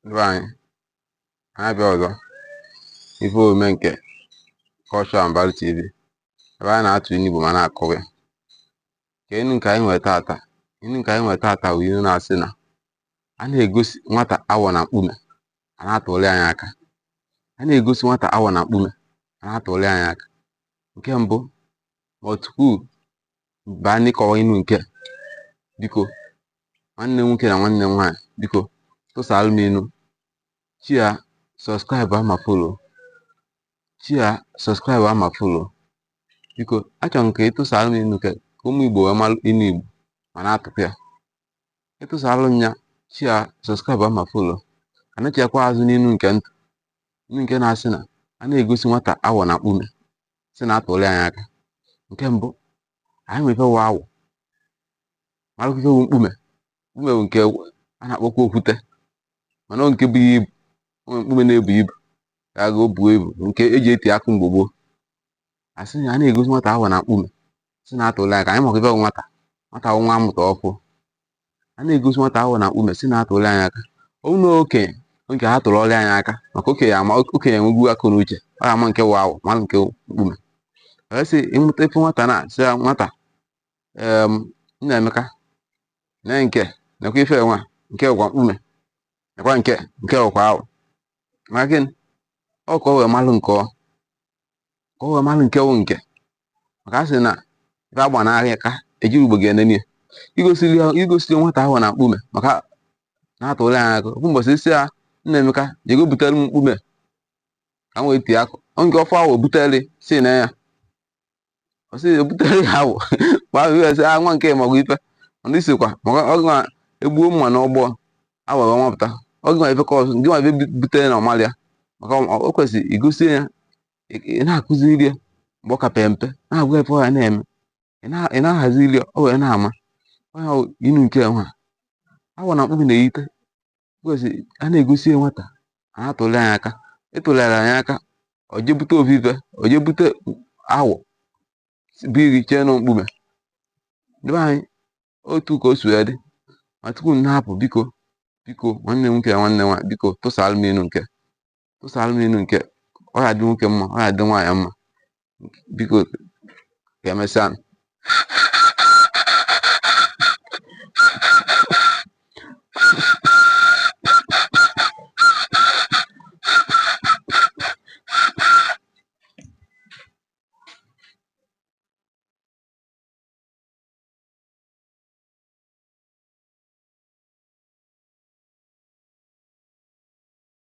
ndị be anyị anyị abịa ọzọ ife omume nke Cultural and Value TV ebe anyị na-atụ inu Igbo ma na-akọwa ya ka inu nke anyị nwe tata inu nke anyị nwe tata bụ inu na-asị na a na-egosi nwata awọ na mkpume a na-atụli nya aka a na-egosi nwata awọ na mkpume a na-atụli nya aka nke mbụ ma tupu baa n'ịkọwa inu nke biko nwanne nwoke na nwanne nwaanyị biko tụsaalụ m inu share subscribe ma follow share subscribe ma follow biko achọrọ m ka ị tụsaalụ m inu ka ụmụ igbo wee malụ inu igbo ma na-atụkwa ya ị tụsaalụ m ya share subscribe ma follow anachiekwa azụ n'inu nke m tụ inu nke na-asị na a na-egosi nwata awọ na mkpume si na atụli nya aka nke mbụ anyị ma ife wụ awọ malụkwa ife wụ mkpume mkpume bụ nke a na-akpọkwa okwute mana nke bu ibu nwere mkpume na-ebu ibu ka aga o buo ibu nke eji eti akụ mgbe gboo asị na a na-egosi nwata awọ na mkpume si na atụli aka anyị makwa ife wụ nwata nwata wụ nwa amụta ọfụ a na-egosi nwata awọ na mkpume si na-atụli nya aka ọ bụrụ na okenye ka a tụlụli nya aka maka okenye ama okenye enwego akọ na uche ọ ma nke wụ awọ ma nke mkpume a sị ị mụta ife nwata na sị ya nwata em Nnaemeka nee nke nekwa ife nwa nke wụkwa mkpume nekwa nke nke wụkwa awọ maka gịnị ọ ka o wee malụ nke ọ ka o wee malụ nke wụ nke maka a sị na ife agba n'aka ejirọ ugogbe enene ya igosiri ya igosiri nwata awọ na mkpume maka na-atụli nya aka ofu mbọsị ị sị ya Nnaemeka jego butere m mkpume ka m wee tie akụ o jee ọ fụ awọ butere sị na ya ọ sị ebutere ya awọ ma ahụ ya sị ah nwa nke magwa ife ndị sikwa maka ọ ga egbuo mma n'ọgbọ awọ wee nwapụta ọ gị nwa ife kọsụ gị nwa ife bu- butere na ọ malọ ya maka ọ- o kwesịrị igosi ya ị ị na-akụziri ya mgbe ọ ka pere mpe na-agwa ife ọ ya na-eme ị na- ị na-ahaziri ya ọ wee na-ama ọ ya wụ inu nke nwa awọ na mkpume na-eyite kwesịrị a na-egosi ya nwata a na-atụli nya aka ị tụlere nya aka ọ jee bute ovive ọ jee bute awọ bụ iri chee na ọ mkpume ndị be anyị otu ka o si wee dị ma tupu m na-apụ biko biko nwanne m nwoke na nwanne m nwaanyị biko tụsaalụ m inu nke tụsara m inu nke ọ ga-adị nwoke mma ọ ga-adị nwaanyị mma biko ka emesịa